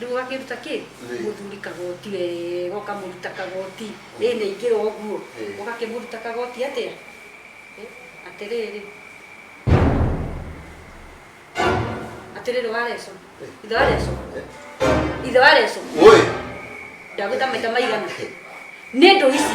Rĩu ũgakĩruta kĩ? Nĩ. Mũthuri kagoti wega ũkamũruta kagoti. Ĩĩ nĩ aingĩra ũguo. Ĩĩ. Ũgakĩmũruta kagoti atĩa? Ĩ, Atĩrĩrĩ. Atĩrĩrĩ wa Reco. Ĩĩ. Ithe wa Reco. Ithe wa Reco. Woi! Ndagwĩta maita maigana? Nĩ ndũ ici.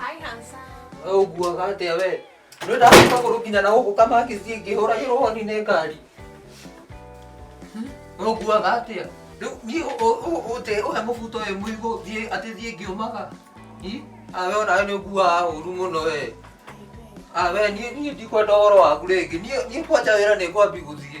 Hi, handsome. Ũguaga atĩa we? Nĩ ndacoka kũrũkinya na gũkũ kamakĩci ngĩhũragĩrwo honi nĩ ngari. Ũguaga atĩa? Rĩu niĩ ũ- ũ- ũ- ũte ũhe mũbuto ũyũ mũigũ thiĩ atĩ thiĩ ngĩũmaga. Hi? Ah, we onawe nĩ ũguaga ũru mũno we. Ah, we niĩ niĩ ndikwenda ũhoro waku rĩngĩ. Niĩ niĩ kwanja wĩra nĩ ngwambi gũthiĩ.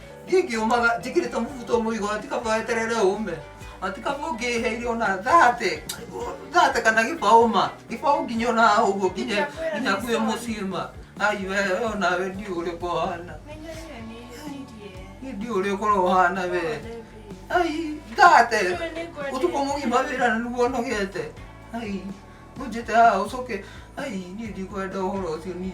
gigi umaga njikirite mubuto muigo atikaba eterere ume atikaba ungiheire ona thate thate kana gibauma gibau nginya ona uguo nginya nginya kwi mucima ai we ona we ndi uri kohana ndi uri kurohana we ai thate utuko mugima wira na nuguo nogete ai unjite haa ucoke ai ni ndikwenda uhoro ucio nie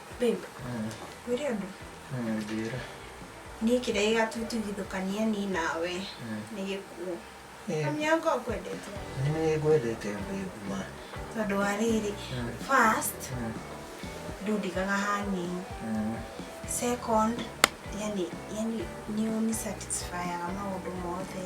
Babe, wĩre ũndũ. Njĩra. Niĩ kĩrĩa gĩgatũtigithũkania niĩ nawe nĩ gĩkuũ. Mami yakwa ũkwendete. Nĩ ngwendete babe ma. Tondũ wa rĩrĩ, first ndũndigaga hanini. Second, yani yani nĩ ũni satisfyaga maũndũ mothe.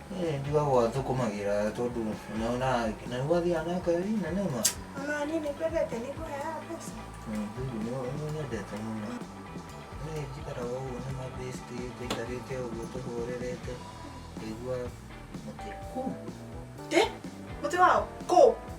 Eh, njugagwo athũkũmagĩra tondũ naona na nĩ gwathiaga na ngari na nema Ona niĩ nĩ kwendete nĩ kũheaga mbeca. nĩnyendete mũno nĩ njikaraga ũguo na mabĩsti tũikarĩte ũguo tũhũrĩrĩte ngaigua mũtĩ Kũ? Ĩ, mũtĩ wao? Kũ?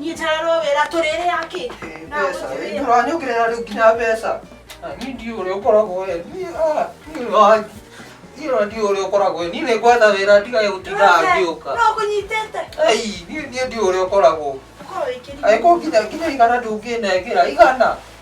niä njararwo wä ra tå rä rä akä mbeca ĩ, ndũranyũkĩrĩra rĩu nginya mbeca Na niĩ ndiũ ũrĩa ũkoragwo we niĩ ah, niĩ wa- niĩ ona ndiũ ũrĩa ũkoragwo we niĩ nĩ ngwetha wĩra ndigage gũtindaga ngĩũka no kå nyitete Ei, niĩ niĩ ndiũ ũrĩa ũkoragwo korwo wä kä agĩkorwo nginya nginya igana ndũngĩnengera igana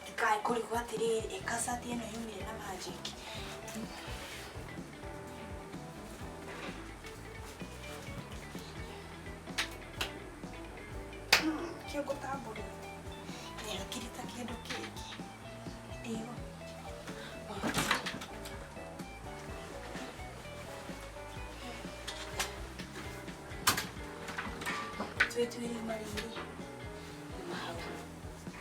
Ndikae kũrigwo atĩrĩrĩ, ĩ kasati ĩno yumire na magic. Hmm, Kĩo ngũtambũrĩra. Nĩ hakiri ta kĩndũ kĩngĩ. Ĩyo. Twĩtuĩrie marigũ. Nĩ mahau.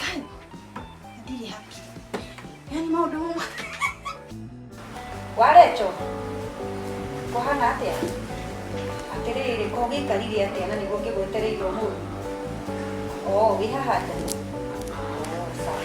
Kai, ndirĩ happy. Yaani maũndũ mama. Warecho. Kuhana atia. Atiriri ko gikarire atia na niguo ngigwetereire umuthi. Oh, wi haha nja. Oh, sawa.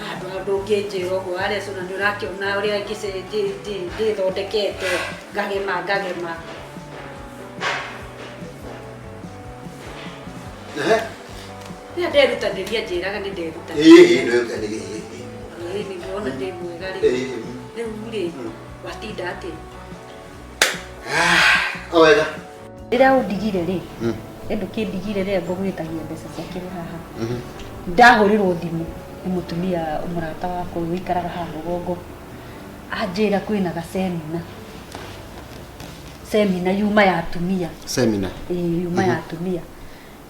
Handũ ndũngĩnjĩra ũguo arĩa cuna nĩ ũrakĩona ũrĩa ngĩce- ndĩ- ndĩ- ndĩthondekete ngagema ngagema Ehe. rĩrĩa nderutanĩria njĩraga nĩ nderutanĩria Ĩĩ, ĩĩ, nĩ ũka- nĩ- ĩĩ, ĩĩ. Ĩĩ, nĩ ndĩrona ndĩ mwega rĩ Ĩĩ. rĩu rĩ Mm. watinda atĩ Ah, wega rĩrĩa ũndigire rĩ hmm. nĩ ndũkĩndigire rĩrĩa ngũgwĩtagia mbeca ciakĩrĩ haha mhm. ndahũrĩrwo thimũ nĩ mũtumia mũrata wakwa ũyũ ũikaraga haha rũgongo anjĩra kwĩna gasemina semina yuma ya atumia semina ĩĩ yuma ya mhm. atumia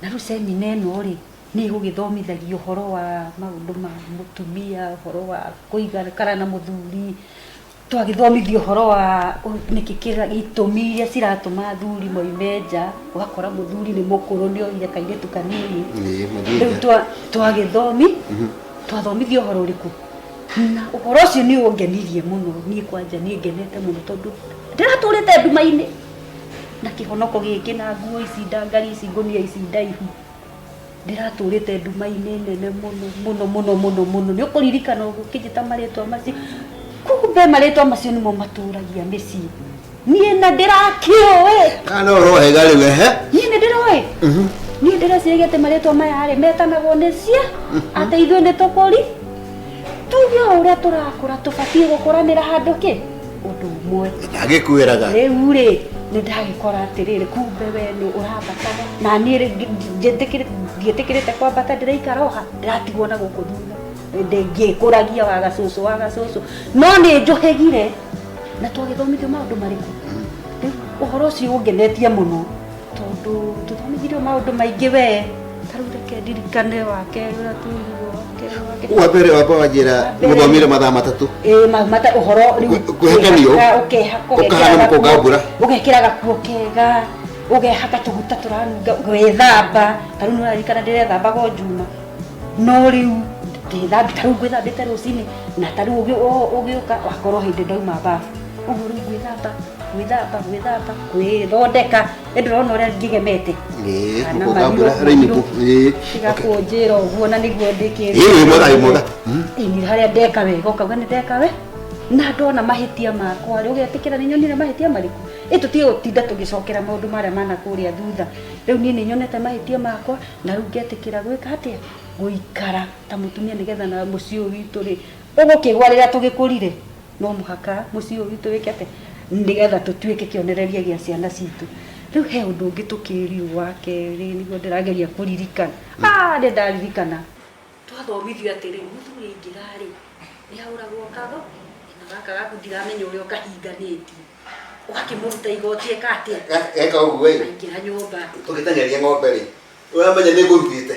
na rĩu semina ĩno rĩ nĩ ĩgũgĩthomithagio ũhoro wa maũndũ ma mũtumia ũhoro wa kũigana kana na mũthuri twagĩthomithio ũhoro wa nĩkĩ itũmi iria ciratũma athuri moime nja ũgakora mũthuri nĩ mũkũrũ nĩ oire kairĩtu kanini rĩu twagĩthomi mhm. twathomithio ũhoro ũrĩkũ na ũhoro ũcio nĩ ũngenirie mũno niĩ kwanja niĩ ngenete mũno tondũ ndĩratũrĩte nduma-inĩ na kĩhonoko gĩkĩ na nguo ici ndangari ici ngũnia ici ndaihu ndĩratũrĩte nduma-inĩ nene mũno mũno mũno mũno mũno nĩ ũkũririkana ũguo ũkĩnjĩta marĩtwa macio kumbe marĩtwa macio nĩmo matũragia mĩciĩ niĩ na ndĩrakĩũĩ kana ũrohega rĩu ehe niĩ nĩ ndĩroĩ niĩ ndĩreciria atĩ marĩtwa maya rĩ metanagwo nĩ cia atĩ ithuĩ nĩ tũkũri tuge o ũrĩa tũrakũra tũbatiĩ gũkũranĩra handũ kĩ ũndũ ũmwe agĩkwĩraga rĩu rĩ nĩ ndagĩkora atĩrĩrĩ kumbe we nĩ ũrambataga na niĩ rĩ ngi- njĩtĩkĩrĩ- ndiĩtĩkĩrĩte kwambata ndĩraikara oha ndĩratigwo na gũkũ thutha Ndĩ- ngĩkũragia wa gacũcũ wa gacũcũ no nĩ njũhĩgire na twagĩthomithio maũndũ marĩkũ rĩu ũhoro ũcio ũngenetie mũno tondå tå thomithirio maå ndå maingä wee tarä u reke ndirikane wake å rä a twĩrirwo wa mbere wamba wanjĩra mũthomire mathaa matatũ mata å horo kwĩhakanio ũkahana mũkũnga mbura ũgekĩra gakuo kega ũgehaka tũguta tũranunga gwĩthamba tarĩu nĩ ũrarikana ndĩrethambaga o njuma no rĩu ndĩthambi tarĩu ngwĩthambĩte rũcinĩ na tarĩu ũgĩũka wakorwo hĩndĩ ndauma mbabu ũhoro gwĩthamba gwĩthamba gwĩthamba gwĩthondeka ĩndĩ ũrona ũrĩa ngĩgemete Eh, Kana ũkambura marigũ- raini bu- eh, tiga okay. kũnjĩra ũguo na nĩguo Eh, wĩ mwega wĩ mwega Mm. ini harĩa ndeka wega ũkauga nĩ ndeka we na ndona mahĩtia makwa rĩ ũgetĩkĩra nĩ nyonire mahĩtia marĩkũ ĩ tũtige gũtinda tũgĩcokera maũndũ marĩa mana kũrĩa thutha rĩu niĩ nĩ nyonete mahĩtia makwa na rĩu ngetĩkĩra gwĩka atĩa gũikara ta mũtumia nĩgetha na mũciĩ ũyũ witũ rĩ ũgũkĩgwa rĩrĩa tũgĩkũrire no mũhaka mũciĩ ũyũ witũ wĩke atĩ nĩgetha tũtuĩke kĩonereria gĩa ciana citũ rĩu he ũndũ ũngĩ tũkĩriu wa kerĩ nĩguo ndĩrageria kũririkana ah nĩ ndaririkana twathomithio atĩrĩ mũthuri aingĩra-rĩ nĩ ahũragwo kago na gaka gaku ndiramenya ũrĩa ũkahinganĩtie ũgakĩmũruta igoti eka atĩa Ga- geka ũguo ĩ aingĩra nyũmba tũgĩteng'eria ng'ombe rĩ ũramenya nĩ ngũrugĩte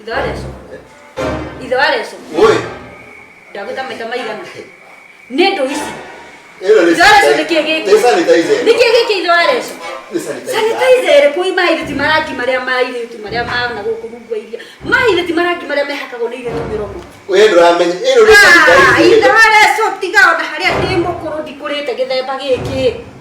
Ithe wa Reco. Ithe wa Reco. Oi. Ndagwĩta maita maigana. Nĩ ndũ ici. Ĩno nĩ Ithe wa Reco nĩ kĩĩ gĩkĩ? Nĩ sanitizer. Nĩ kĩĩ gĩkĩ ithe wa Reco? Nĩ sanitizer. Sanitizer ĩrĩ kũi mairĩti marangi marĩa ma airĩtu marĩa maana gũkũ rungu wa iria. Mairĩti marangi marĩa mehakagwo nĩ irĩtu mĩromo. Wee ndũramenya. Ĩno nĩ Ah, sanitizer. ithe wa Reco tiga ona harĩa ndĩ mũkũrũ ndikũrĩte gĩthemba gĩkĩ.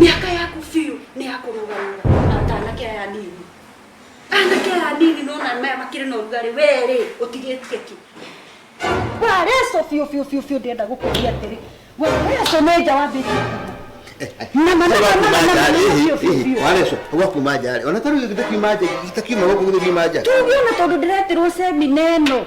mĩaka yaku biũ nĩ ya kũrũgamĩra na ta anake aya nini anake aya nini nona maya makĩrĩ na ũrugarĩ werĩ ũtigĩtie ki wareco biũ biũ biũ biũ ndĩenda gũkũria atĩrĩ wareco nĩ nja wambĩtie kuuma na manene manene manene biũ biũ biũ wareco gwakuma nja rĩ ona tarĩu gĩtakiuma nja gĩtakiuma gũkũ gĩthiuma nja tugiona tondå ndä reterwo cemina ä no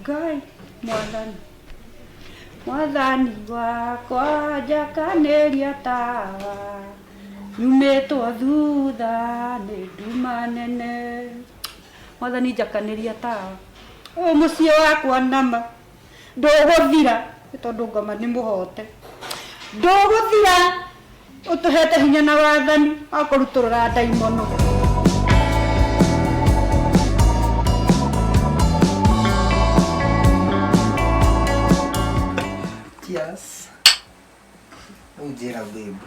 ngai mwathani mwathani wakwa njakanĩria tawa nyumĩtwo thutha nĩ nduma nene mwathani njakanĩria tawa ũyũ mũciĩ wakwa nama Ndũgũthira nĩ tondũ ngoma nĩ mũhoote. Ndũgũthira ũtũheete hinya na wathani wa kũrutũrũra ndaimono. Cheers. Rĩu njĩra babe.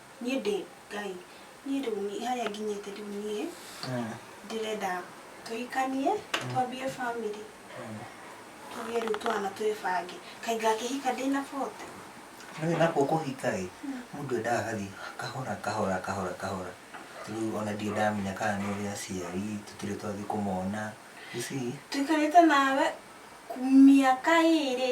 niĩ ndĩ ngai niĩ rĩu niĩ harĩa nginyĩte rĩu niĩ ndĩrenda tũhikanie twambie bamĩrĩ tũgĩe rĩu twana twĩbange kaĩ ngakĩhika ndĩna bote Nĩ nakwo kũhika ĩ mũndũ endaga gathiĩ kahora kahora kahora kahora rĩu ona ndirĩ ndamenya kana nĩ ũrĩ aciari tũtirĩ twathiĩ kũmona you see tũikarĩte nawe ku- mĩaka ĩrĩ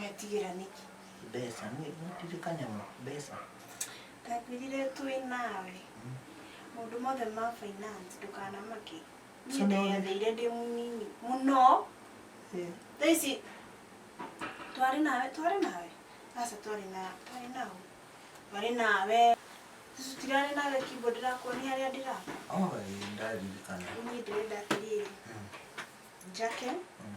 Wetigĩra nĩkĩ? Mbeca, nĩ ndirĩ kanyamũ, mbeca. Ndakwĩrire twĩ nawe. Maũndũ mothe ma finance ndũkanamake. Niĩ Sona ũrĩa- ndeyathĩire ndĩ mũnini mũno. Eh, Thaa ici twarĩ nawe, twarĩ nawe. Aca twarĩ na, twarĩ nawe. Twarĩ nawe. Sisi tutirarĩ nawe kibo ndĩrakuonia harĩa ndĩraka. oh, eh, ndaririkana. Niĩ ndĩrenda atĩrĩrĩ. Mm, Njake mm.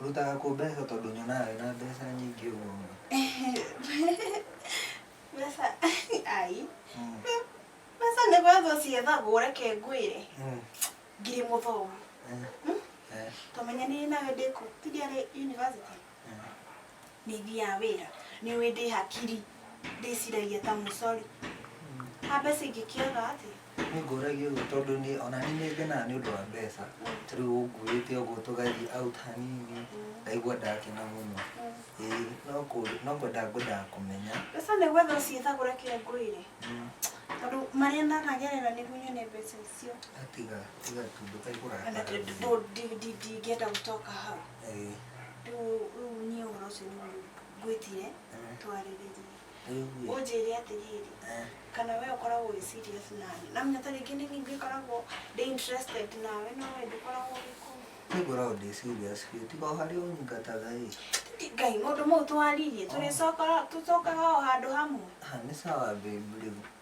Ũrutaga kũ mbeca tondũ nyonaga wĩna mbeca nyingĩ ũguo mũno? Mbeca ai, Mm, mbeca nĩ gwetha ciethagwo reke ngwĩre mm, ngirĩ mũthomu eh, eh. twamenyanire nawe ndĩkũ tũthiarĩ university Nĩ thiaga wĩra. Nĩ ũĩ ndĩ hakiri. Ndĩciragia ta mũcori. Ha mbeca ingĩkĩaga atĩa? Nĩ ngũragia ũguo tondũ nĩ ona niĩ nĩ ngenaga nĩ ũndũ wa mbeca. Ta rĩu ũnguĩte ũguo tũgathiĩ out hanini, ngaigua ndakena mũno. Ĩĩ no kũũria no kwenda ngwendaga kũmenya. Mbeca nĩ gwetha ũciethagũra kĩrĩa ngwĩre. Tondũ marĩa ndanagerera nĩguo nyone mbeca icio. Tiga tiga tu ndũkaihũra. Ndingĩenda gũcoka hau. Ĩĩ. Rĩu rĩu niĩ ũhoro ũcio nĩguo ngwĩtire Eh. twarĩrĩrie. Ĩĩ ũguo. Ũnjĩre atĩrĩrĩ, Eh. kana we ũkoragwo wĩ serious na niĩ. Na menya ta rĩngĩ nĩ niĩ ngĩkoragwo ndĩ interested nawe no we ndũkoragwo ũgĩkũ. Niĩ ngoragwo ndĩ serious biũ. Tiga o harĩa ũnyingataga ĩ. Ngai, maũndũ mau twaririe, tũrĩcoka tũcokaga o handũ hamwe. Ha, nĩ sawa babe rĩu.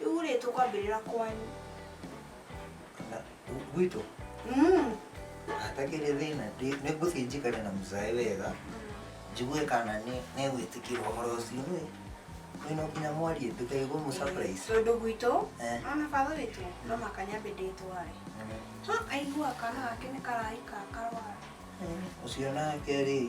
Rĩu rĩ tũkwambĩrĩra kwanyu. Na, gw- gwitũ Mm. hatagĩrĩ thĩna ndĩ- nĩngũthiĩ njikare na mũcaĩ wega njigue kana nĩ- nĩgwĩtĩkĩra ũhoro ũcio nĩ kwĩna nginya mwarie ndũkaigwo mũ surprise Tondũ gwitũ Eh. ona baba witũ no maka nyambe ndĩtware. Ha aigua kana gake nĩ karaika karwara. ũcio nake rĩ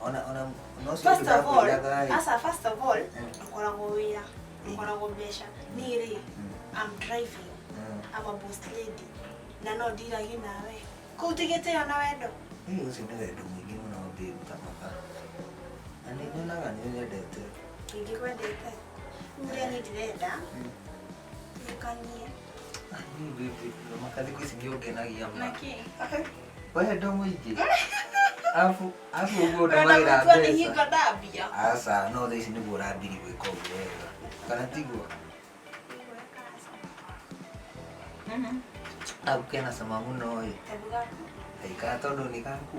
ona ona no cio First of all, ndakũiaga asa first of all, ndukoragwo wĩra, ndukoragwo mbeca. Niĩ rĩ, I'm driving, I'm a boss lady, na no ndiragi nawe. Kũu tigĩtĩo na wendo. Hihi ũcio nĩ wendo mũingĩ mũno babe kamaka na nĩ nyonaga nĩ nyendete Ingĩkwendete. Rĩu rĩa niĩ ndirenda, Ndũkanie. Ah, niĩ baby, thamaka thikũ ici nĩũngenagia ma. Nakĩ? Wendo mũingĩ. Afu afu ũguo ndũmagĩra Ũrenda mbeca. hingo ndambia. Aca, no thaa ici nĩguo ũrambiri gwĩka ũguo wega. Kana tiguo? Abu kena cama mũno ĩ. Kabu gaku. Aikara tondũ nĩ gaku.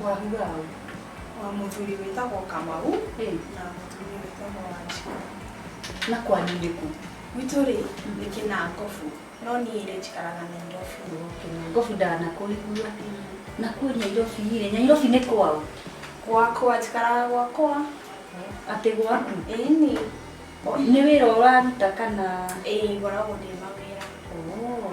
Mwahuga ũ? Wa mũthuri wĩtagwo Kamau Ĩ. na mũtumia wĩtagwo Wanjikũ. Na kwanyu nĩ kũ? Gwitũ rĩ nĩ Kĩnangobu no niĩ rĩ njikaraga Nairobi. Kĩnangobu ndanakũigua. Na kũu Nairobi rĩ, Nairobi nĩ kwaũ? Gwakwa njikaraga gwakwa. Atĩ gwaku? Ĩni. Nĩ wĩra ũraruta kana? Ĩĩ ngoragwo ndĩ mawĩra. Oo.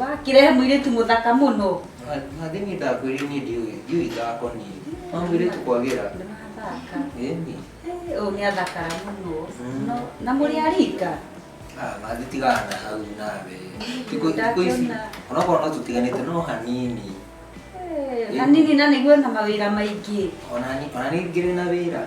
Wakirehe mwiritu muthaka muno. Mathi ni ndakwirire ni ndiui ndiui thako ni. Ma mwiritu kwagira. Ndirathaka. Eni. Uyu ni athakara muno. Mm. No na muri arika. Ah, mathi tigana na hau nawe. Tiku tiku ici. Ona kwa no tutiganite no hanini. Eh, hanini na niguo na mawira maingi. Ona ni ona ni ngire na wira.